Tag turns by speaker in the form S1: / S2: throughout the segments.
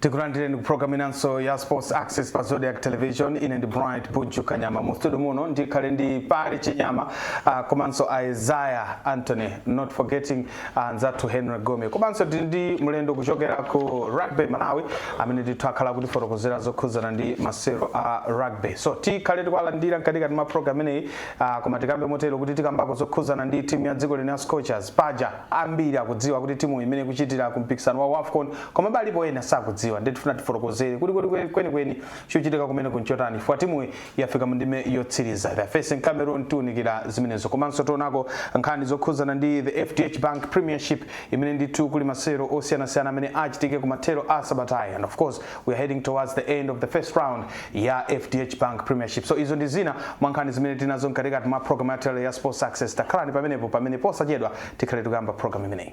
S1: tikulandireni ku program inanso ya sports access pa zodiak television ine ndi bright bunju kanyama mu studio muno ndikhale ndi pali chinyama uh, komanso isaiah anthony not forgetting anzathu henry gome komanso tili ndi mlendo kuchokera ku rugby malawi amene ndithu akhala akutifotokozera zokhudzana ndi masewero a rugby so tikhale tikuwalandira mkatikati mwa program ineyi ah, koma tikambe motero kuti tikambako zokhudzana ndi timu ya dziko lino la scorchers paja ambiri akudziwa kuti timu mmene ikuchitira ku mpikisano wa wafcon koma balipo ena sakudziwa ndiye tifuna tifotokozere kuti kuti kweni- kwenikweni chochitika kumeneku nchotani chifukwa timuyi yafika mu ndime yotsiriza they are facing cameroon tiunikira zimenezo komanso tionako nkhani zokhuzana ndi the fdh bank premiership imene ndithu kuli masewero osiyanasiyana amene achitike kumathero a sabata ino and of course we are heading towards the end of the first round ya fdh bank premiership so izo ndi zina mwa nkhani zimene tinazo mkatikati mwa program ya lero ya sports access takhalani pamenepo pamene posachedwa tikhale tikuyamba program imeneyi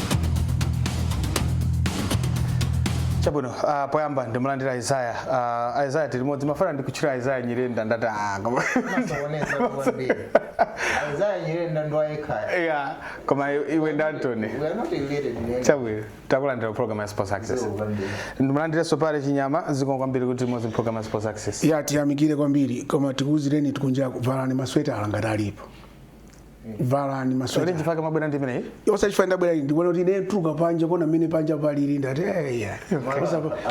S1: chabwino uh, poyamba ndimulandire isaiah uh, isaiah tili limodzi mmafuna ndikutchule isaiah nyirenda ndati ah, koma- Mwasokoneza kwambiri.
S2: Isaiah Nyirenda ndi wayekha. yeah,
S1: koma i- iwe ndi anthony We are not
S2: related, we are- chabwino
S1: takulandira program ya sports access Zikomo kwambiri. ndimulandirenso pale chinyama zikomo kwambiri kuti tili limodzi program ya sports access ya tiyamikire kwambiri
S3: koma tikuuzireni kuti kunjaku valani masweta ngati alipo valani masweta chifukwa mwabwera ndi
S1: imeneyi yose chifukwa ndabwera
S3: ndikuona kuti ine kutuluka panja kuona mmene panja palili ndati eya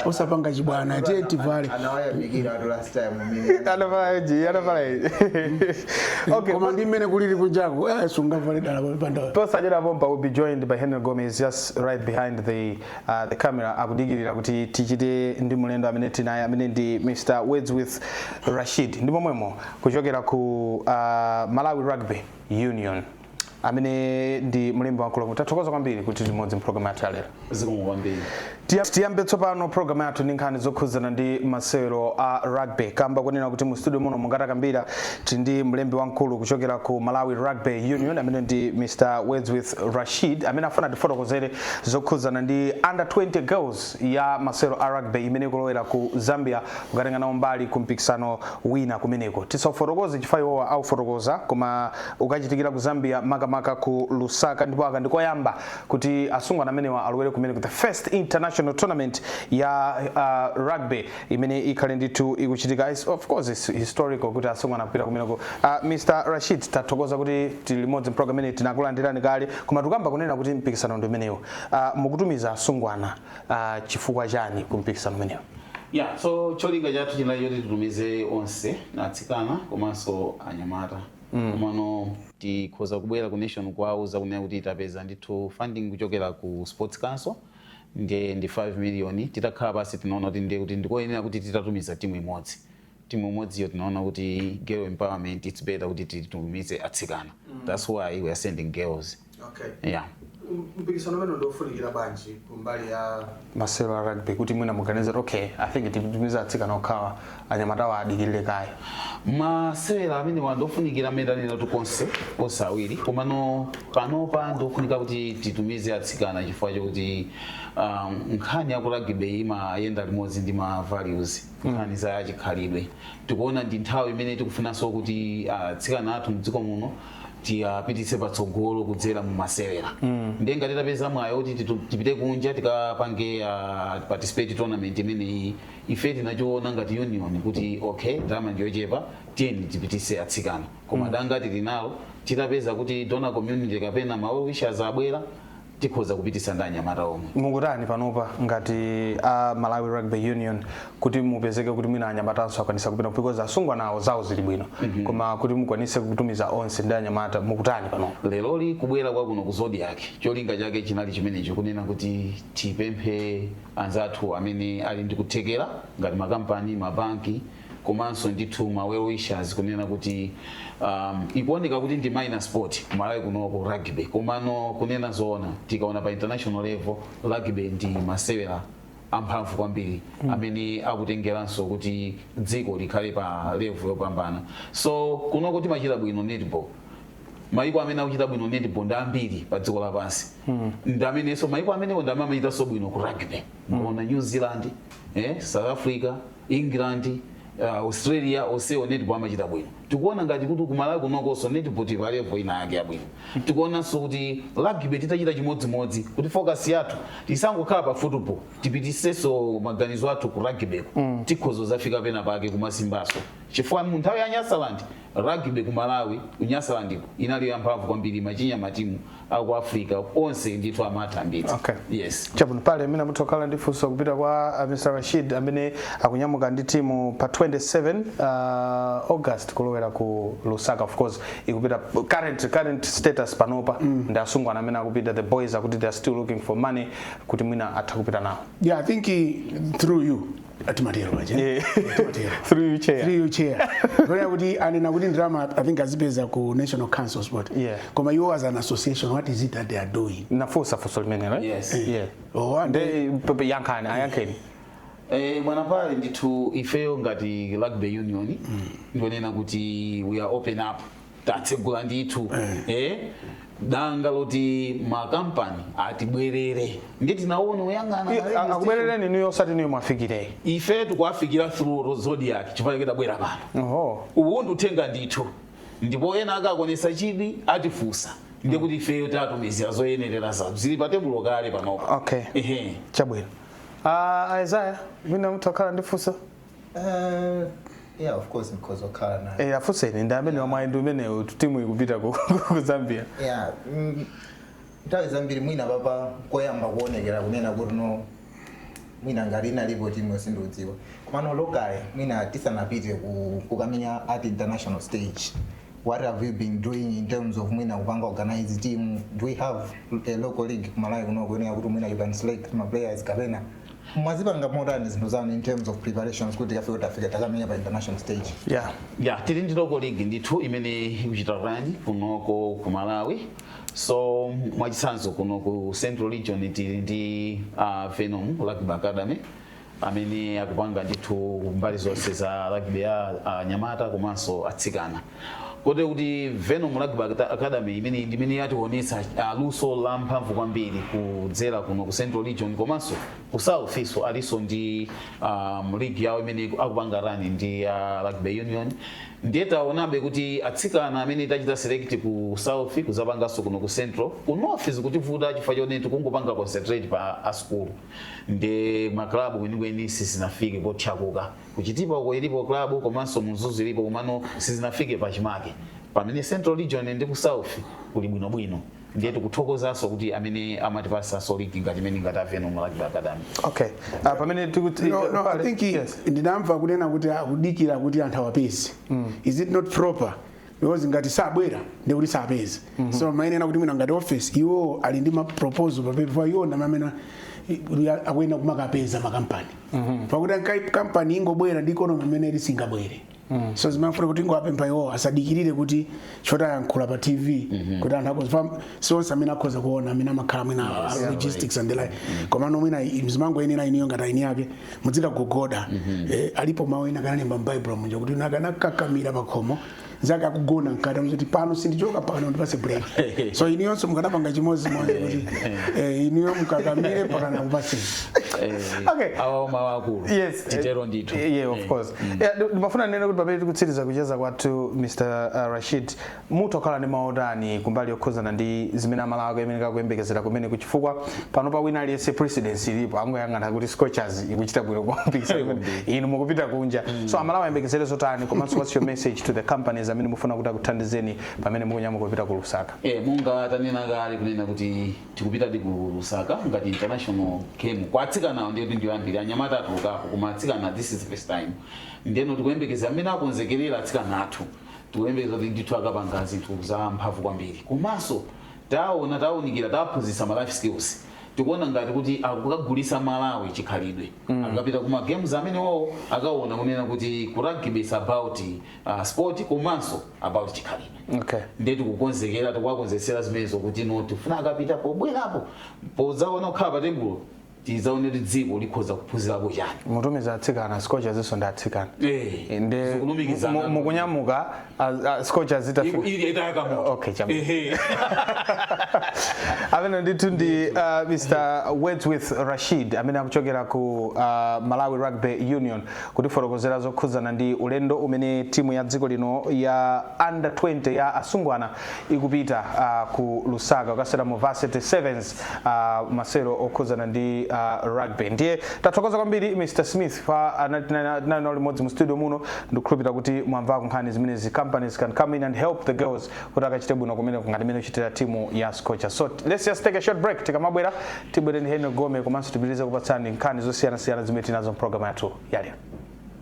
S3: osapanga chibwana tiye tivale anawayamikiratu
S2: last time mimi anavala ichi anavala
S1: ichi okay koma ndi mmene
S3: kulili kunjako eh, sungavale dala paja posachedwa pompa we'll
S1: be joined by henry gome he's just right behind the, uh, the camera akudikirira kuti tichite ndi mulendo amene tili naye amene ndi mr wordsworth rashid ndi momwemo kuchokera ku uh, Malawi Rugby Union amene ndi mlembi wamkulu tathokoza kwambiri kuti tili limodzi mpulogalamu yathu yalero zikomo
S4: kwambiri tiyambe
S1: tsopano programu yathu ndi nkhani zokhudzana ndi masewero a rugby kamba kunena kuti mu studio muno monga takambira tili ndi mlembi wamkulu kuchokera ku malawi rugby union amene ndi mr wordsworth rashid amene afuna atifotokozere zokhudzana ndi under 20 girls ya masewero a rugby imene ikulowera ku zambia kukatenga nawo mbali ku mpikisano wina kumeneko. Tisaufotokoze chifukwa iwowa aufotokoza koma ukachitikira ku Zambia maka maka ku Lusaka ndipo aka ndi koyamba kuti asungwana amenewa alowere kumeneko the first international tournament ya uh, rugby imene ikhale ndithu ikuchitika It's- of course it's historical kuti asungwana akupita kumeneko uh, Mr. Rashid tathokoza kuti tili limodzi program imene tinakulandirani kale koma tikamba kunena kuti mpikisano ndi umenewo uh, mukutumiza asungwana Ah, chifukwa chani kumpikisano umenewo yeah
S4: so cholinga chathu chinali choti titumize onse atsikana komanso anyamata komano tikhoza kubwera ku nation kuwauza kunena kuti tapeza ndithu funding kuchokera ku sports council ndiye ndi 5 million titakhala pansi tinaona kuti ndiye kuti ndikoyenera kuti titatumiza timu imodzi timu imodziyo tinaona kuti girl empowerment it's better kuti titumize atsikana that's why we are sending girls Okay.
S1: yeah mpikisano umenewu ndiofunikira bwanji kumbali ya masewero a rugby kuti mwina muganize kuti okay i think titumiza atsikana okhawa anyamatawa adikirire kaye
S4: masewera amenewa ndiofunikira mmene ndanenera tikonze onse awiri komano panopa ndofunika kuti titumize atsikana chifukwa chokuti um, nkhani yaku rugby imayenda limodzi ndi ma values nkhani za chikhalidwe tikuona ndi nthawi imene tikufunanso kuti atsikana athu mdziko muno tiwapititse patsogolo kudzera mu masewera ndiye ngati tapeza mwayi kuti titu- tipite kunja tikapange ah, participate tournament imeneyi ife tinachiona ngati union kuti okay ndalama ndiyochepa tiyeni tipitise atsikana koma danga tili nalo titapeza kuti donor community kapena ma wishers abwera tikhoza kupitisa ndi anyamata omwe. Mukutani
S1: panopa ngati a Malawi Rugby Union kuti mupezeke kuti mwina anyamatanso akwanisa kupita because asungwanawo zawo zili bwino mm -hmm. koma kuti mukwanise kutumiza onse ndi anyamata mukutani panopa? Leroli kubwera
S4: kwakuno ku Zodiak cholinga chake chinali chimenecho kunena kuti tipemphe anzathu amene ali ndi kuthekera ngati makampani, mabanki komanso ndithu ma well wishers kunena kuti um, ikuoneka kuti ndi minor sport kumalawi kunoko rugby komano kunena zoona tikaona pa international level rugby ndi masewera amphamvu kwambiri amene akutengeranso kuti dziko likhale pa level yopambana so kunoko timachita bwino netball maiko amene akuchita bwino netball ndi ambiri pa dziko lapansi ndi amenenso maiko amenewo ndi amene amachitanso bwino ku rugby muona new zealand eh, south africa England, uh, Australia onsewo netball amachita bwino. Tikuona ngati kuti kumalawi kunokonso netball tili pa level ina yake yabwino. Tikuonanso kuti rugby titachita chimodzimodzi kuti focus yathu tisangokhala pa football tipitisenso maganizo athu ku rugby ko. Tikhoza kuzafika pena pake kumasimbanso. Chifukwa mu nthawi ya Nyasaland Rugby ku Malawi ku Nyasalandiko inali ya mphamvu kwambiri imachinya matimu aku Africa onse ndithu amatha ambiri. Okay. Yes. Chabwino
S1: pali
S4: amene amatha
S1: kukhala ndi funso kupita kwa uh, Mr. Rashid amene akunyamuka ndi timu pa 27 uh, August kulowera ku Lusaka of course ikupita current current status panopa mm. ndi asungwana amene akupita the boys akuti they are still looking for money kuti mwina atha kupita nawo. Yeah, I think he,
S3: through you timatero paja Eh.
S1: timatero through you chair
S3: Three chair poti anena kuti ndalama i think azipeza ku national council of sports Yeah. koma iwo as an
S1: association
S3: what is it that they are doing nafunsa funso
S1: limenelo eh? Yes. yeah
S4: oh,
S1: and
S3: Nde, p- p-
S1: yankhani ayankheni
S4: Eh, bwana apa ndithu ifeyo ngati rugby union ndionena kuti we are open up tatsegula ndithu eh, danga loti makampani atibwerere ndi tinaona tikuyang'ana I- a- akubwerereni inuyo osati
S1: inuyo muwafikire ife tikuwafikira
S4: through Zodiak chifukwa chake tabwera pano oho uwu ndi uthenga ndithu ndipo ena akaonetsa chidwi atifunsa ndi kuti ifeyo tatumizira zoyenerera zathu zili pa tebulo kale panopa Okay. Ehe.
S1: chabwino uh, isaya mwina mutha kukhala ndifunso
S2: yeah of course mkhoza kukhala nayo Eh, afunseni ndi ameneyu
S1: mwayi ndi umenewu timu ikupita ku ku
S2: zambia yeah mm, nthawi zambiri mwina aka nkoyamba kuonekera kunena kuti no mwina ngati inalipo timuyo sindidziwa komano locally mwina tisanapite ku- kukamenya at international stage what have you been doing in terms of mwina kupanga organize team do we have a local league kumalawi kuno kunena kuti mwina you can select ma players kapena mwazipanga motani zinthu zanu in terms of preparations kuti tikafike tikamenye pa international stage yeah ya tili ndi
S4: local league ndithu imene ikuchita rani kunoko ku malawi so mwachitsanzo kuno ku central region tili ndi uh, Venom rugby academy amene akupanga ndithu mbali zonse za rugby ya anyamata komanso atsikana kotero kuti venom rugby academy imeneyi ndi imene yatiwonetsa ah, luso la mphamvu kwambiri kudzera kuno ku central region komanso ku south so alinso ndi um, league yawo imene iku- akupanga rani ndi uh, rugby union ndiye taonabe kuti atsikana amene tachita select ku south kudzapanganso kuno ku central ku north zikutivuta chifukwa choti tikungopanga concentrate pa masukulu nde maklabu kwenikweni sizinafike potchakuka Ku Chitipa uko ilipo club komanso mu Mzuzu ilipo komano sizinafike pachimake. Pamene Central Region ndi ku South kuli bwino bwino. Ndiye tikuthokozanso kuti amene amatipatsanso league ngati imene ngati Venom Rugby Academy. Okay.
S1: Uh, pamene tikuti No, no, I think yes.
S3: ndinamva kunena kuti akudikira kuti anthu awapeze. Is it not proper? because ngati sabwera ndi kuti sapeza so amayenera kuti mwina ngati office iwo ali ndi ma proposal pa paper iwo ndi amene akuyenda kumakapeza makampani pakuti ankai- kampani ingobwera ndi ikonomi imene ili singabwere so ndimafuna kuti ndingowapempha iwo asadikirire kuti choti ayankhula pa tv kuti anthu akadziwa sionse amene akhoza kuona amene amakhala mwina yes, yeah, logistics and the like mm -hmm. komano mwina mzimango ine na iniyo ngati aini yake mudzika kugona mm -hmm. eh, alipo mawu ena analemba m'baibulo munja kuti nakanakakamira pakhomo zaka kugona mkati zoti pano sindichoka pano ndipase break so inuyonso mukanapanga chimodzimodzi kuti eh inuyo mukakamire mpakana akupatseni
S1: eh, okay awa mawu
S4: akulu yes titero ndithu
S1: yeah
S4: of eh, course mm.
S1: yeah ndimafuna nene kuti pamene tikutsiriza kucheza kwathu Mr uh, Rashid Mutha kukhala ndi mau otani kumbali yokhuzana ndi zimene amalawi akuyenereka kuyembekezera kumeneko chifukwa panopa wina aliyense precedence ilipo angoyang'ana kuti scorchers ikuchita bwino ku mpikisano umene inu mukupita kunja so amalawi ayembekezere zotani komanso what's your message to the companies amene mufuna kuti akuthandizeni pamene mukunyamuka kupita ku lusaka Eh, monga
S4: tanena kale kunena kuti tikupitadi ku lusaka ngati international game kwa atsikanawo ndiye kuti ndi yoyamba anyamata atulukapo koma atsikana this is the first time ndeno tikuyembekeza mmene akonzekerera atsikana athu Tikuyembekeza kuti ndithu akapanga zinthu za mphamvu kwambiri komanso taona taunikira taphunzitsa ma life skills tikuona ngati kuti akukagulitsa Malawi chikhalidwe mm. akapita kuma games amenewawo akaona kunena kuti ku rugby is about uh, sport komanso about chikhalidwe okay. ndiye tikukonzekera tikuwakonzetsera zimenezo kuti no tifuna akapita pobwerapo podzaona kukhala pa tebulo tidzaone kuti dziko likhoza kuphunzirapo chani mutumiza
S1: atsikana scorchers inso ndi atsikana Eh, Eh, ndi
S4: mu- zikulumikizana. mu- mukunyamuka
S1: az- a- scorchers itafika ili itayaka moto Okay, chama. Ehe. amene ndithu ndi uh, mr wordsworth rashid amene akuchokera ku uh, malawi rugby union kutifotokozera zokhudzana ndi ulendo umene timu ya dziko lino ya under 20 ya asungwana ikupita uh, ku lusaka kukasewera mu varsity sevens uh, masewero okhudzana ndi uh, rugby ndiye tathokoza kwambiri mr smith pa amene tinali nawo limodzi mu studio muno ndikukhulupirira kuti mwamvako nkhani zimenezi companies can come in and help the girls kuti akachite bwino kumeneko ngati mmene ikuchitira timu ya scorchers so let's just take a short break tikamabwera tibwere ndi henry gome komanso tipitirize kukupatsani nkhani zosiyanasiyana zimene tinazo mu program yathu yalero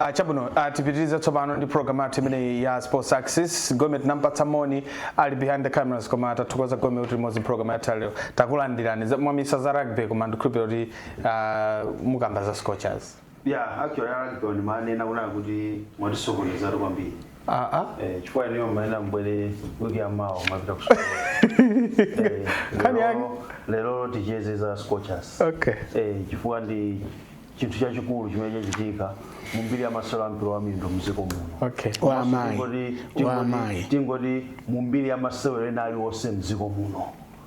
S1: Uh, chabwino uh, tipitirize tsopano ndi program yathu imeneyi ya sports access gome tinampatsa moni ali behind the cameras koma tathokoza gome kuti tili limodzi program yathu ya lero takulandirani Za- mwamissa za rugby koma ndikhulupirira kuti uh, mukamba za scorchers ya
S5: actually a rugby ndimanena kunena kuti mwatisokonezatu kwambiri aa Eh, chifukwa inuyo mumanena mbwere wiki ya mawa mwapita kusukulu Eh, Nkhani lero- yake. lero ticheze za scorchers okay
S1: Eh, chifukwa
S5: ndi chinthu chachikulu chimene chachitika mu mbiri ya masewero a mpira wa miyendo mdziko muno okay Wa amayi.
S1: Tingoti- Wa tingoti- amayi.
S5: tingoti mu mbiri ya masewero ena aliwonse mdziko muno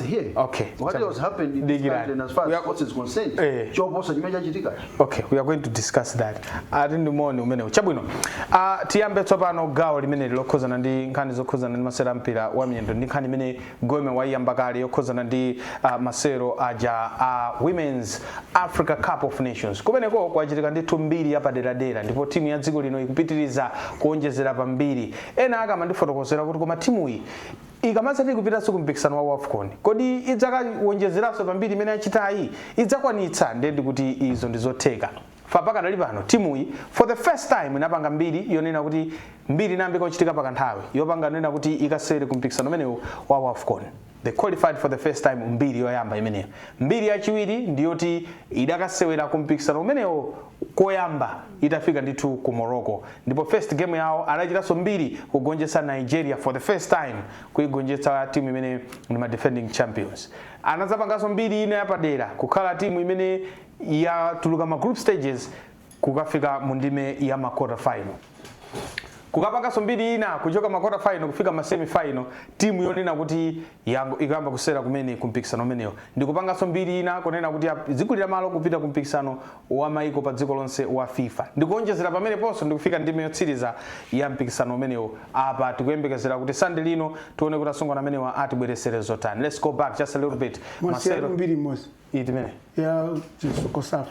S5: Here, Okay. what Chabu- else
S1: happened in
S5: this Dikirani. country and as far We as are- sports is concerned? Eh. Choposa chimene
S1: chachitika. okay we are going to discuss that ati ndimoni umenewu chabwino uh, tiyambe tsopano gawo limeneli lokhudzana ndi nkhani zokhudzana ndi masewero a mpira wa miyendo ndi nkhani imene gome waiyamba kale yokhudzana ndi uh, masewero aja a uh, women's africa cup of nations kumeneko kwachitika ndithu mbiri yapaderadera ndipo timu ya dziko lino ikupitiriza kuonjezera pambiri ena akamandifotokozera kuti koma timuyi ikamadzati kupitanso ku mpikisano wa Wafcon, kodi idzakawonjezeranso pa mbiri imene yachitayi? Idzakwanitsa? Ndiye ndikuti izo ndi zotheka. Pakadali pano timuyi for the first time inapanga mbiri yonena kuti mbiri inayambika kuchitika pakanthawi yopanga yonena kuti ikasewere ku mpikisano umenewu wa Wafcon. They qualified for the first time mbiri yoyamba imeneyo. Mbiri yachiwiri ndi yoti idakasewera ku mpikisano umenewo koyamba itafika ndithu ku Morocco ndipo first game yawo anachitanso mbiri kugonjetsa Nigeria for the first time kuigonjetsa timu imene ndi ma defending champions anazapanganso mbiri ina yapadera kukhala timu imene yatuluka ma group stages kukafika mu ndime ya ma quarter final kukapanganso mbiri ina kuchoka ma quarter final kufika ma semi final timu yonena kuti ikuyamba kusewera kumene ku mpikisano umenewu ndi kupanganso mbiri ina kunena kuti yadzigulira malo kupita ku mpikisano wa maiko pa dziko lonse wa fifa ndi kuonjezera pameneponso ndi kufika ndime yotsiriza ya mpikisano umenewu apa tikuyembekezera kuti sunday lino tione kuti asungwana amenewa atibweretsera zotani let's go back just a little bit mwasiyatu masewero mbiri
S3: imodzi iti imene Ya Cosafa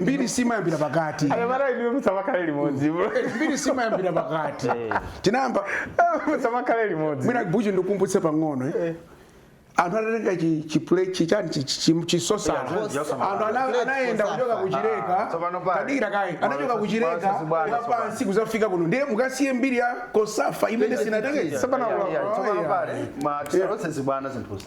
S3: mbiri simayambira pakati anyamata inu
S1: musamakhale limodzi bro mbiri
S3: simayambira pakati tinayamba musamakhale limodzi mwina buchi ndikumbutse
S1: pang'ono
S3: eh. anthu anatenga chi- chipule- chi- chani chi- chi- chi- chisosala Yeah, chisosala. anthu ana- Plate anayenda kuchoka chisosala. kuchileka Ah, tsopano pale. tadikirani kaye anachoka Mwanasasi- ku Chileka mwanasasi bwana, wa tsopano. pansi kuzafika kuno ndiye mukasiye mbiri ya kosafa imene sinatenge tsopano Yeah, yeah, yeah. tsopano pale
S5: ma tisalotse zibwana zinthuzi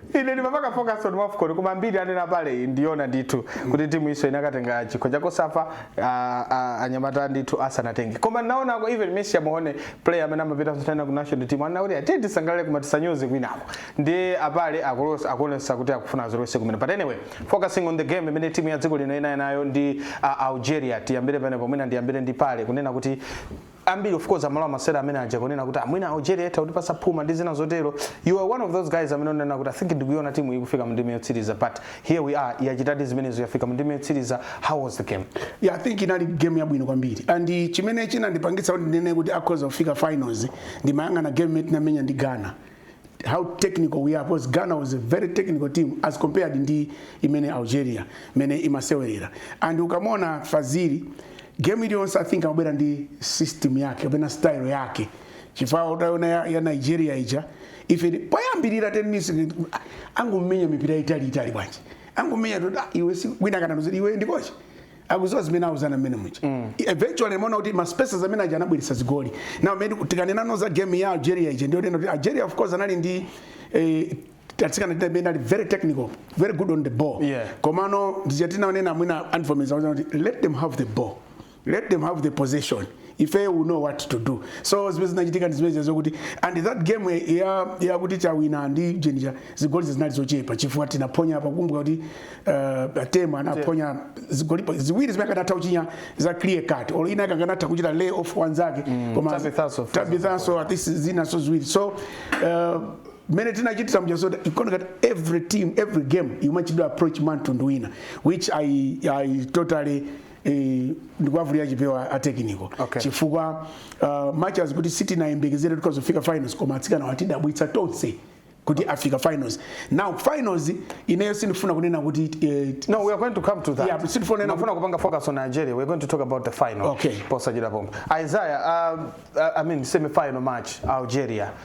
S1: ine ndimapanga focus on wafcon koma mbiri anena pale iyi ndiyona ndithu kuti timuyinso inakatenga chikho chakosafa ah, ah, anyamata ndithu asanatenge koma naonako even messi amawona player amene amapita kusewera ku national team anena kuti tiye tisangalale koma tisanyoze kwinako ndiye apale akulos- akuonesa kuti akufuna azolowese kumene but anyway focusing on the game imene timu ya dziko lino inali nayo ndi ah, algeria tiyambire pamenepo mwina ndiyambire ndi pale kunena kuti ambiri of course amalowa masewero amene aja kunena kuti mwina algeria itha kutipatsa phuma ndi zina zotero you are one of those guys amene unena kuti i think ndikuiona timu ikufika mu ndime yotsiriza but here we are yachitadi zimenezo yafika mu ndime yotsiriza how was the game yeah, i think
S3: inali game yabwino kwambiri and chimene chinandipangitsa kuti ndinene kuti akhoza kufika finals ndimayang'ana game imene tinamenya ndi ghana how technical we are because Ghana was a very technical team as compared ndi imene Algeria mmene imasewerera and ukamona Fazili game iliyonse I think amabwera ndi system yake kapena style yake chifukwa utaona ya, ya Nigeria ija ife poyambirira 10 minutes angomenya mipira itali itali bwanji angomenya iwe si wina kana iwe ndi kochi akudziwa zimene auzana mmene muja mm. eventually muona kuti ma spaces amene aja anabweretsa zigoli now maybe tikanena now za game ya Algeria ija ndiyonena Algeria of course anali ndi eh, tatsikana tina benda very technical very good on the ball yeah. komano ndi ija tinanena mwina on formation kuti let them have the ball let them have the possession ifeyo we know what to do so zimene zinachitika ndi zimenezo kuti and that game eh, ya yakuti tawina ndi Algeria ija zigoli zinali zochepa chifukwa tinaphonya apa kumbuka kuti uh, Temwa anaphonya zigoli pa- ziwiri zimene akanatha kuchinya za clear cut or mwina akanatha kuchita lay off wanzake koma
S1: Tabithanso, for
S3: tabithanso at least zinanso ziwiri so uh, mmene tinachitira muja so you can know that every team every game imachitidwa approach mwa mtundu wina which i, I totally eh, ndikuwavulira chipewa a technical Okay. chifukwa uh, much as kuti sitinayembekezere kuti adzafika finals koma atsikanawa atidabwitsa tonse kuti afika finals now finals ineyo sindifuna kunena kuti eh, No, we are going
S1: to come to that. Yeah, but still for now- ndimafuna
S3: kupanga focus on
S1: Nigeria. We're going to talk about the final. Okay. Posachedwa pompa. Isaiah, uh, uh, I mean semi-final match Algeria.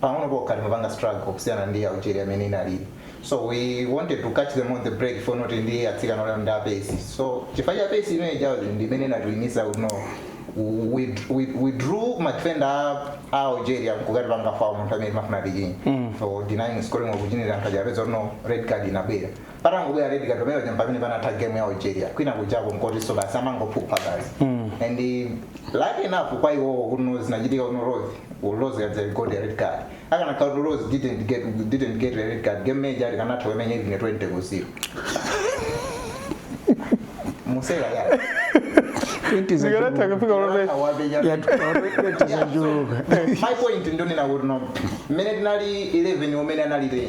S2: pang'ono pokha timapanga struggle kusiyana ndi Algeria mmene inalili so we wanted to catch them on the break for not ndi atsikana olero ndi a pace so chifukwa cha pace imene ija ndi imene inatiwinitsa kuno we, we, we drew madefenda a- a Algeria kukatipanga foul munthu amene timafuna tichinye so denying scoring opportunity anthu aja apeza kuti no red card inabwera patangobwera red card pamene paja mpamene panatha game ya Algeria kwina kujako mkotinso basi amangophupha basi and eh, lucky enough kwa iwowo kuno zinachitika kuno Rose Rose Kadzere got a red card akanakhala kuti Rose didn't get, didn't get a red card game imene ija tikanatha kuimenya even 20 ku 0 museka ya Zikanatha kufika ulove. Awapenya. yatuzanjuluka my point ndonena kuti no mmene tinali 11 mmene anali 10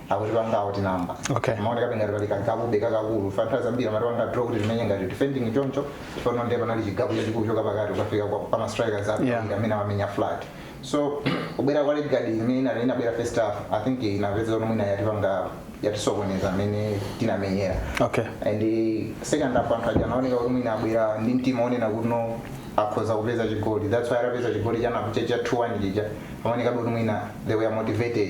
S2: akutipanga outnumber Okay. pamaoneka ngati pali ka gap be kakakulu chifukwa nthawi zambiri amatipanga draw kuti timenye ngati defending choncho pano ndiye panali chi gap chachikulu kuchoka pakati ukafika kwa- pa mastrikers Yeah. yeah. amene amamenya flat so kubwera kwa red card imene ina- inabwera first half i think inapeza kuti mwina yatipanga yatisokoneza mmene tinamenyera okay and eh, second half anthu aja anaoneka kuti mwina abwera ndi mtima onena kuno akhoza kupeza chigoli that's why atapeza chigoli chanapo cha 2-1 chija amaonekabe kuti mwina they were motivated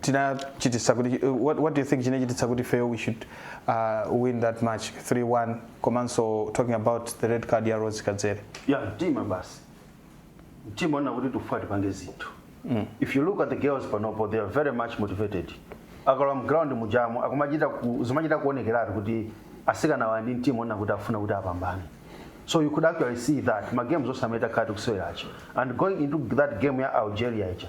S1: chinachitisa kuti uh, what, what do you think chinachitisa kuti Phil we should uh, win that match 3-1 komanso talking about the red card ya rose kadzere yeah mtima basi
S5: mtima wonena kuti tikufuna tipange zinthu if you look at the girls panopo they are very much motivated akalowa mground mujamo akumachita ku- zimachita kuonekeratu kuti asikana awa ndi mtima wonena kuti afuna kuti apambane so you could actually see that ma games also mmene akati kuseweracho and going into that game ya algeria ija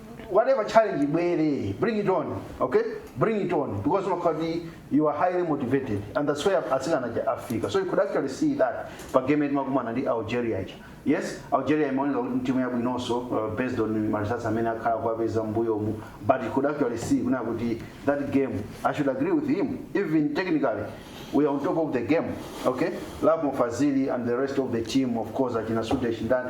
S5: whatever challenge ibwere bring it on okay bring it on because umakhala kuti you are highly motivated and that's where atsikana aja afika so you could actually see that pa game yati makumana ndi algeria aja yes algeria imaoneka kuti ndi timu yabwinonso uh, based on ma results amene akhala akuwapeza m'mbuyomu but you could actually see kunena kuti that game i should agree with him even technically we are on top of the game okay lovemore fazili and the rest of the team of course achina sudesh ndani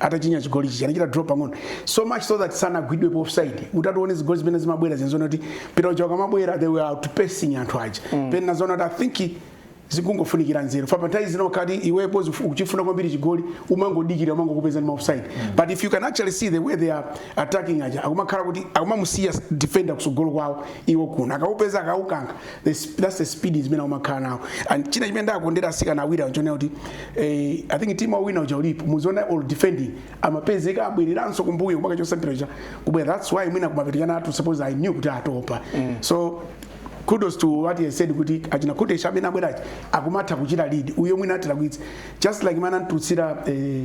S3: atachinya chigoli chichi anachita drop pang'ono so much so that sanagwidwe pa offside mutati muone zigoli zimene zimabwera zinali zonena kuti mpira uja ukamabwera they were outpacing anthu aja mm. then anadzaona kuti i think zikungofunikira nzeru apapa nthawi zina ukati iwepo zifu- ukuchifuna kwambiri chigoli umangodikira umangokupeza ndi maofside but if you can actually see the way they are attacking aja akumakhala kuti akumamusiya defender kusogolo kwawo iwo kuno akakupeza akaukankha The sp- that's the speed zimene umakhala nawo and china chimene ndakondera asikana awiriwa nchonena kuti eh, i think timu ikawina uja ulipo muziona all defending amapezeka abwereranso kumbuyo mpaka akachotsa mpira cha kubwera that's why mwina kumapeto asikana athu suppose anali kuti atopa so kudos to what he said kuti achina kutesa amene abwerachi akumatha kuchita lead uyo mwina atilakwitse just like mana ntutsira eh,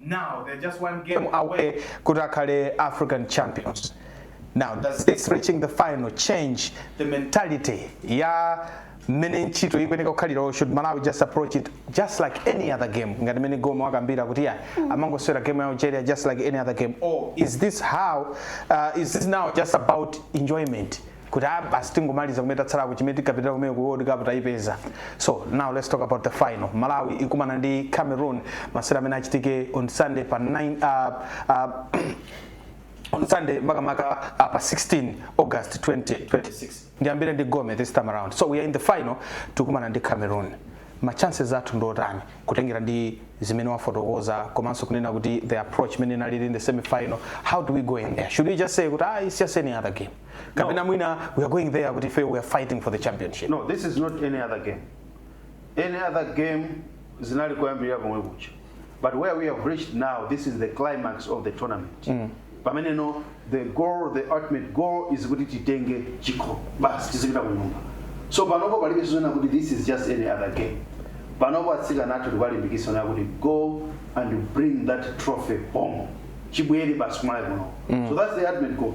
S1: Now they're just one game away kuti akhale African champions. Now does this reaching the final change the mentality ya mmene ntchito ikuyeneka kukhalira should Malawi just approach it just like any other game ngati mmene Goma wakambira kuti ya hmm. amangoswera game ya Algeria just like any other game or is this how uh, is this now just about enjoyment kuti ah, basi tingomaliza kumene katsalako chimene tinkapitira kumene ku world cup tayipeza so now let's talk about the final malawi ikumana ndi cameroon masewera amene achitike on sunday pa 9 uh, uh, on sunday makamaka uh, pa 16 august 2026 ndiyambire ndi gome this time around so we are in the final tikumana ndi cameroon ma chances athu ndi otani kutengera ndi zimene wafotokoza komanso kunena kuti the approach imene inalili in the semi final how do we go in there should we just say kuti ah, it's just any other game kapena mwina we are going there kuti ife we are fighting for the championship no this is not
S5: any other game any other game zinali koyambirira komwe kuja but where we have reached now this is the climax of the tournament mm. pamene now the goal the ultimate goal is kuti titenge chikho basi tizipita kunyumba so panopo palibe chonena kuti this is just any other game panopo atsikana athu tikuwalimbikitsa kunena kuti go and bring that trophy home chibwere basi kumalawi kuno so that's the ultimate goal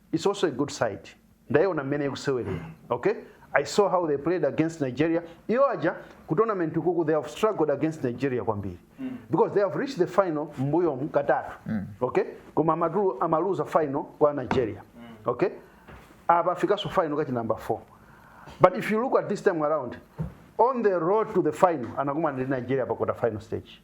S5: Its also a good side ndaiona mmene ikusewelera ok I saw how they played against Nigeria iyo aja ku tournament ukuku they have struggled against Nigeria kwambiri mm. because they have reached the final mbuyo mkatatu mm. ok koma amatu amaluza final kwa Nigeria mm. ok apa fikaso final kachi number 4 but if you look at this time around on the road to the final anakumana ndi Nigeria pa quarter final stage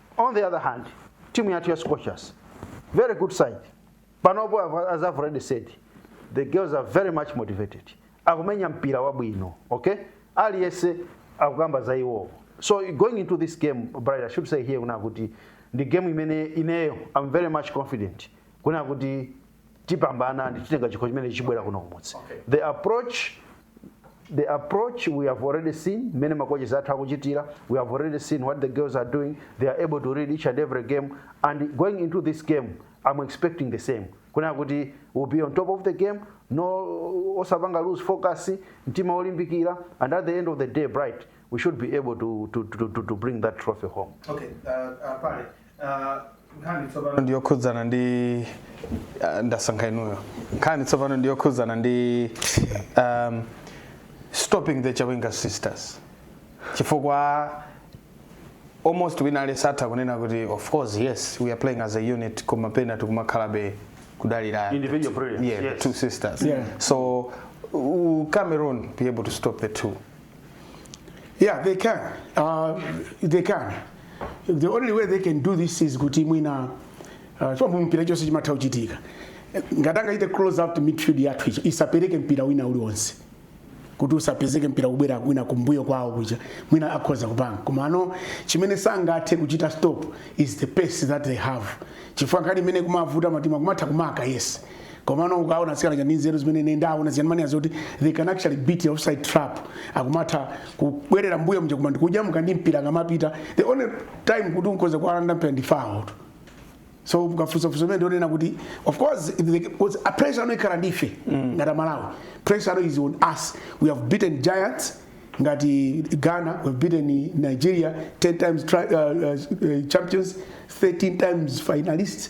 S5: on the other hand timu yathu ya scorchers very good side panopo I've- as i've already said the girls are very much motivated akumenya mpira wabwino okay aliyense akukamba za iwowo so going into this game bright i should say here kunena kuti ndi game imene ineyo i'm very much confident kuna kuti tipambana ndi titenga chikho chimene chibwera kuno kumudzi the approach the approach we have already seen mmene makoches athu akuchitira we have already seen what the girls are doing they are able to read each and every game and going into this game i'm expecting the same kunena kuti will be on top of the game no osapanga lose focus mtima olimbikira and at the end of the day bright we should be able to,
S1: to,
S5: to, to, to bring that trophy home Okay, uh, uh, pale nkhani
S1: tsopano ndi yokhudzana ndi ah, ndasankha inuyo nkhani tsopano ndi yokhudzana ndi um, stopping the Chawinga sisters chifukwa almost wina aliyense atha kunena kuti of course yes we are playing as a unit koma pena tikumakhalabe kudalira Individual brilliance,
S5: yeah, yes. two sisters
S1: Yeah. so u- Cameroon be able to stop the two
S3: Yeah, they can. Uh, they can. The only way they can do this is kuti mwina uh, chomwe mu mpira chonse chimatha kuchitika ngati angachite close out midfield yathu ija isapereke mpira wina uliwonse kuti usapezeke mpira kubwera wina kumbuyo kwawo kuja mwina akhoza kupanga komano chimene sangathe kuchita stop is the pace that they have chifukwa nkhani imene kumavuta matimu kumatha kumaka yes komano ukaona atsikana aja ndi nzeru zimene ine ndaona ziyani mani azoti they can actually beat the offside trap akumatha kubwerera mbuyo mje kumandi kuja mukandi mpira akamapita the only time kuti ukhoza kuwalanda mpira ndi foul so ukafunsa funso limene wanena kuti of course the, was a pressure now ikhala ndife mm. ngati Malawi pressure now is on us we have beaten giants ngati Ghana we have beaten Nigeria 10 times tri, uh, uh, champions 13 times finalists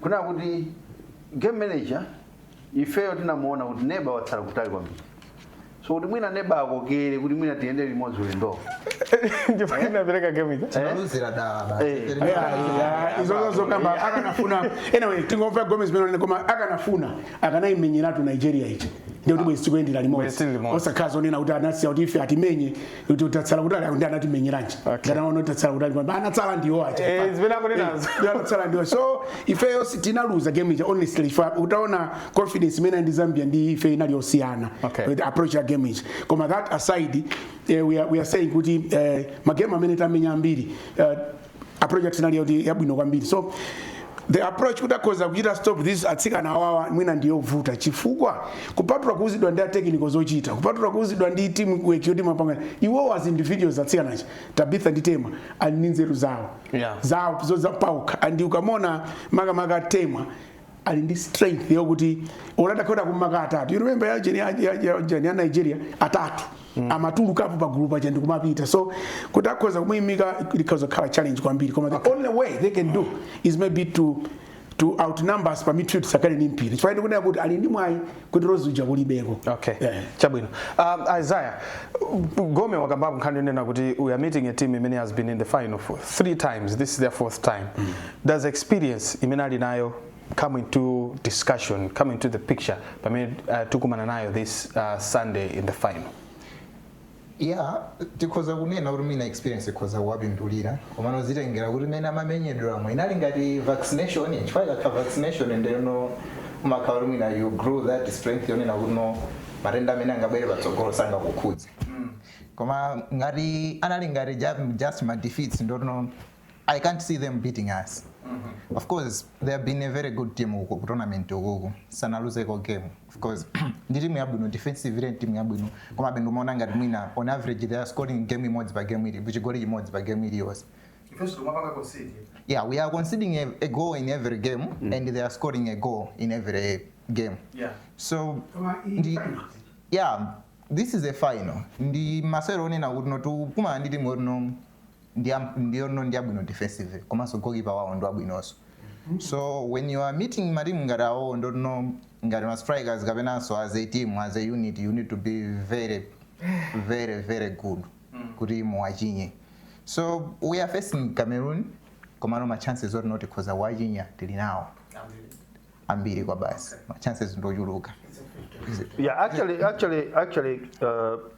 S5: kunena kuti game manager ifeyo tinamuona kuti neba watsala kutali kwambiri so kuti mwina neba akokere kuti mwina tiyendere limodzi ulendowo ndipo
S1: inapereka game ija tinaluzira
S2: dala basi. Eh. Tiri-
S3: Yeah, izozo zokamba akanafuna anyway tingomva Gomez penano koma akanafuna akanaimenyeratu Nigeria ija ndikuti bwezi tikuyendera Bwezi tili limodzi limodzi. osakhala zonena kuti anasiya kuti ife atimenye kuti tatsala kutali akuti anatimenyeranji ngati anaona kuti tatsala kutali poyamba anatsala ndiwo aja Eh, zimene akunenazo. Eh,
S1: anatsala ndiwo so
S3: ifeyo tinaluza game ija honestly ife utaona confidence imene anali nayo Zambia ndi ife inali yosiyana Okay. With approach ya game ija koma that aside eh, we, are, we are saying kuti eh, magame amene tamenya ambiri eh, approach yathu inali yoti yabwino kwambiri so the approach kuti akhoza kuchita stop this atsikana awawa mwina ndiyovuta chifukwa kupatula kuuzidwa ndi a technical zochita kupatula kuuzidwa ndi team work yoti mupanga iwowo as individuals atsikana aja Tabitha ndi Temwa ali ndi nzeru zawo Yeah. zawo zozapawokha and ukamuona makamaka Temwa ali ndi strength yokuti olo atakhala kumaka atatu you remember ya jeni ya ya jeni ya Nigeria atatu mm. amatulukapo pa gulu paja ndikumapita so kuti akhoza kumuyimika ikhoza kukhala challenge kwambiri koma the only way they can do is maybe to to outnumber us pa midfield tisakhale ni mpira chifukwa ndikunena kuti ali ndi mwayi kuti rozi uja kulibeko okay yeah. chabwino
S1: um, isaiah gome wakambapo nkhani yonena kuti we are meeting a team imene has been in the final for three times this is their fourth time mm. does experience imene ali nayo come into discussion come into the picture pamene uh, tikumana nayo this uh, sunday in the final
S2: Yeah, tikhoza kunena kuti mwina experience ikhoza kuwapindulira komano zitengera kuti mmene amamenyedweramo inali ngati vaccination chifukwa ikakhala vaccination ndeno umakhala kuti mwina you grow that strength yonena kuti no matenda amene angabwere patsogolo sangakukhudze koma ngati anali ngati ju- just ma defeats ndeno I can't see them beating us of course they have been a very good team uku ku tournament ukuku sanaluzeko game of course ndi timu yabwino defensive ile timu yabwino koma bendo maona ngati mwina on average they are scoring game imodzi pa game eeh chigoli chimodzi pa game iliyonse Ifenso
S1: tumapanga concede. yeah we are
S2: conceding a, a goal in every game and they are scoring a goal in every game Yeah. so
S1: Koma
S2: iyi ndi final. yeah this is a final ndi masewero onena kuti no tikukumana ndi timu yotino ndiyoti no ndiyabwino defensively komanso goalkeeper wawo ndiwabwinonso so when you are meeting matimu ngati awowo ndiyoti no ngati ma strikers kapenanso as a team as a unit you need to be very very very good kuti muwachinye so we are facing cameroon komano ma chances oti no tikhoza kuwachinya tili nawo ambiri kwabasi ma chances ndochuluka
S5: Yeah, actually, actually, actually, uh,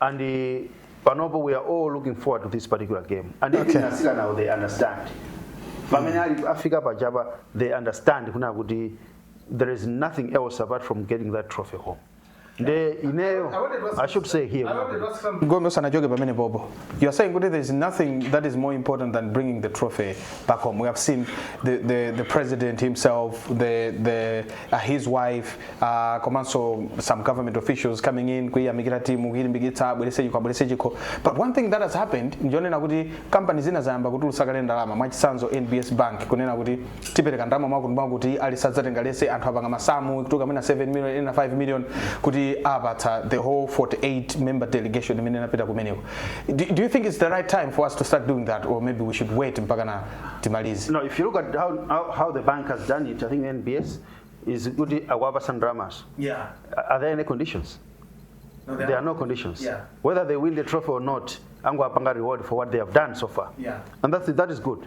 S5: and uh, panopo we are all looking forward to this particular game and okay. nasila now they understand pamene ali afika pachapa they understand kuna kuti there is nothing else apart from getting that trophy home nde ineyo i should say here gombe usanachoke
S1: pamene popo You're saying kuti there's nothing that is more important than bringing the trophy back home. We have seen the, the, the president himself, the, the, uh, his wife, uh, komanso some government officials coming in kuyiyamikira timu kuyilimbikitsa abwerese chikho abwerese chikho but one thing that has happened njonena kuti company zina zayamba kutulutsa kale ndalama mwachitsanzo nbs bank kunena kuti tipereka ndalama mwakuti mwakuti ali sadzatenga lese anthu apanga masamu kutuka mwina 7 million ena 5 million kuti apatsa the whole 48 member delegation imene inapita kumeneko do, do you think it's the right time for us to start doing that or maybe we should wait mpaka na timalize No, if you look at how,
S5: how, how the bank has done it, I think NBS is good awaba some dramas. Yeah. Are there
S2: any conditions?
S5: No, There
S2: are no conditions.
S5: Yeah. Whether they win the
S2: trophy
S5: or not, Angwa Panga reward for what they have done so far. Yeah. And that's, that
S2: is good.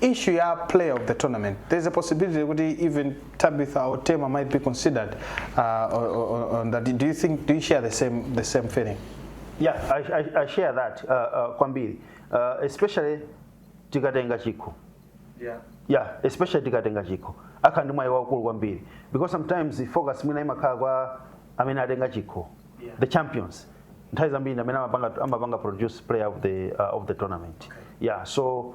S1: issue ya player of the tournament there's a possibility kuti even Tabitha or Tema might be considered uh, on, on, on that do you think do you share the same the same feeling yeah
S5: i, I, I share that uh, uh, kwambiri uh, especially tikatenga chikho yeah yeah especially tikatenga chikho akhala ndi mwayi waukulu kwambiri because sometimes the focus mwina imakhala kwa amene atenga chikho Yeah. the champions nthawi zambiri ndi amene amapanga, amapanga produce player of the, uh, of the tournament yeah so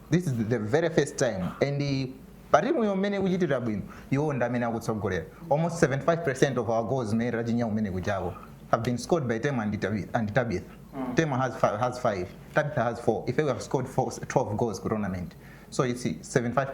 S2: this is the very first time and pa timuyo mmene ikuchitira bwino iwo ndi amene akutsogolera almost 75 percent of our goals mmene tachinya kumene kujako have been scored by tema and, Tabi- and tabitha mm. tema has five, has five tabitha has four ife we have scored four, 12 goals ku tournament so it's 75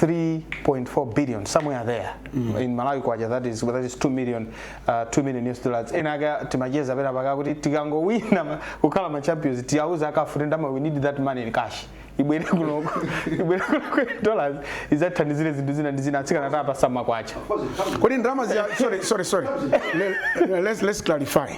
S1: 3.4 billion somewhere there mm. in Malawi kwacha that is that is 2 million uh, 2 million US dollars enaake timacheza penapake kuti tikangowina kukhala ma champions tiyauza a CAF kuti ndalama we need that money in cash ibwere kuno ibwere kuno dollars izathandizire zinthu zina ndi zina atsikana tiwapatsa ma kwacha kodi
S3: ndalama sorry sorry sorry let's let's clarify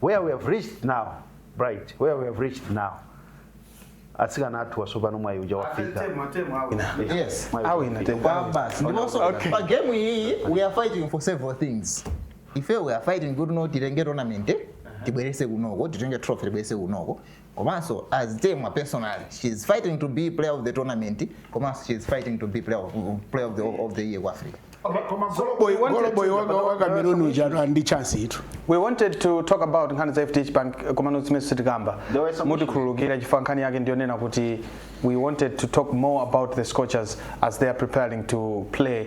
S5: where we have reached now bright where we have reached now atsikana athu wasopano mwayi uja wafika Yes,
S2: Mwayi uja awina
S1: wafika. kwabasi.
S2: Ndiponso Okay. pa
S1: game
S2: iyi we are fighting for several things. Ife we are fighting kuti no titenge tournament tibwerese kunoko, titenge trophy tibwerese kunoko. komanso as Temwa personally she is fighting to be player of the tournament komanso she is fighting to be player of, player of, the, of the year ku africa goloboyi wa Cameroon ujatu
S1: ali ndi chance ndithu we wanted to talk about nkhani za fdh bank eh, komano zimene sitikamba mutikhululukire chifukwa nkhani yake ndiyonena kuti we wanted to talk more about the scorchers as they are preparing to play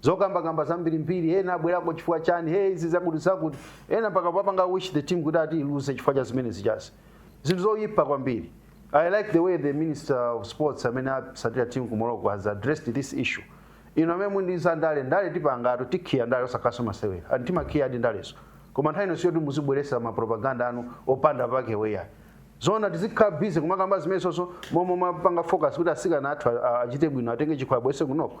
S5: zokambakamba zambirimbiri ena abwerako chifukwa chani hey izi zakuti zakuti ena mpaka kupanga wish the team kuti ati iluze chifukwa cha zimene zijazi zinthu zoyipa kwambiri i like the way the minister of sports amene watsatira team ku morocco has addressed this issue inu amene mumaikiza ndale ndale tipangatu tikiya ndale osatinso masewera and timakiyadi ndalezo koma nthawi ino siyoti muzibweretsa mapropaganda anu opanda pake weyayi zona tizikhala busy kumakamba zimenezonso m'malo mopanga focus kuti atsikana athu a- a- achite bwino atenge chikho abweretse kunoko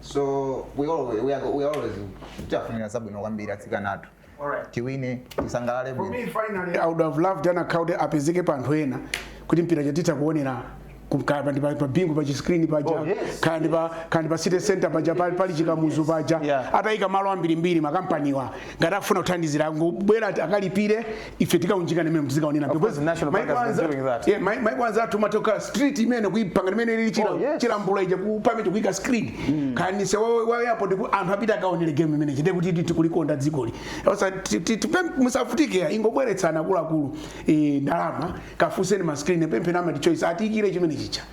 S2: so we always, we are, we always tiafunira zabwino kwambiri atsikana athu Alright. tiwine tisangalale For bwino me, finally, I would
S3: have loved anakakhala kuti apezeke pa anthu ena kuti mpira uja titha kuonera kukhala pa pa bingu pa chiskrini paja Oh, yes. kaya ndi pa kaya ndi pa city center paja pali pali chikamuzu paja Yeah. atayika m'malo ambirimbiri makampaniwa ngati akufuna kuthandizira angobwera akalipire ife tikaunjika mmene
S1: tizikaonera maiko anzathu
S3: umatha kukhala street imene kuipanga imene ili oh, Chilambula ija kumapeto kuika screen mm. kanise wayapo kuti anthu apita akaonere game chimene chite kuti tikulikonda dzikoli musavutike ingobweretsani akuluakulu e, ndalama kafuseni ma screen pempheni a MultiChoice atiikire chimene chija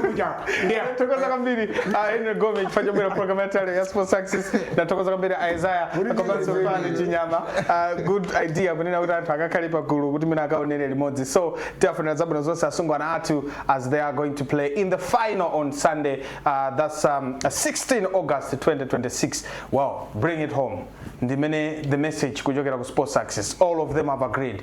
S3: Kujapo. Ndiye tithokoze
S1: kwambiri ah, Henry Gome chifukwa chobwera program yathu ya Sports Access ndi tithokoze kwambiri Isaiah komanso Fani Chinyama Ah, good idea kunena kuti anthu akakhale pa gulu kuti mwina akaonere limodzi so tiwafunira zabwino zonse asungwana athu as they are going to play in the final on Sunday ah, that's um, 16 August 2026 wow bring it home ndiyomwe the message kuchokera ku Sports Access all of them have agreed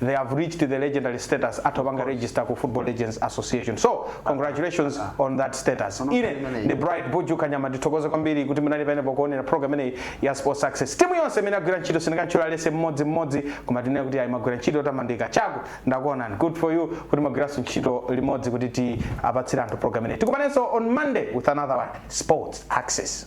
S1: they have reached the legendary status atha kupanga register ku football legends association so congratulations on that status ine ndi bright buju kanyama ndithokoze kwambiri kuti munali pompo pokuonera program imeneyi ya sports access timu yonse imene yagwira ntchito sindinakatchula onse mmodzi mmodzi koma tinene kuti ayi mwagwira ntchito yotamandika Jack ndakuonani good for you kuti mwagwiranso ntchito limodzi kuti tiwapatsire anthu program imeneyi tikumananso on monday with another one sports access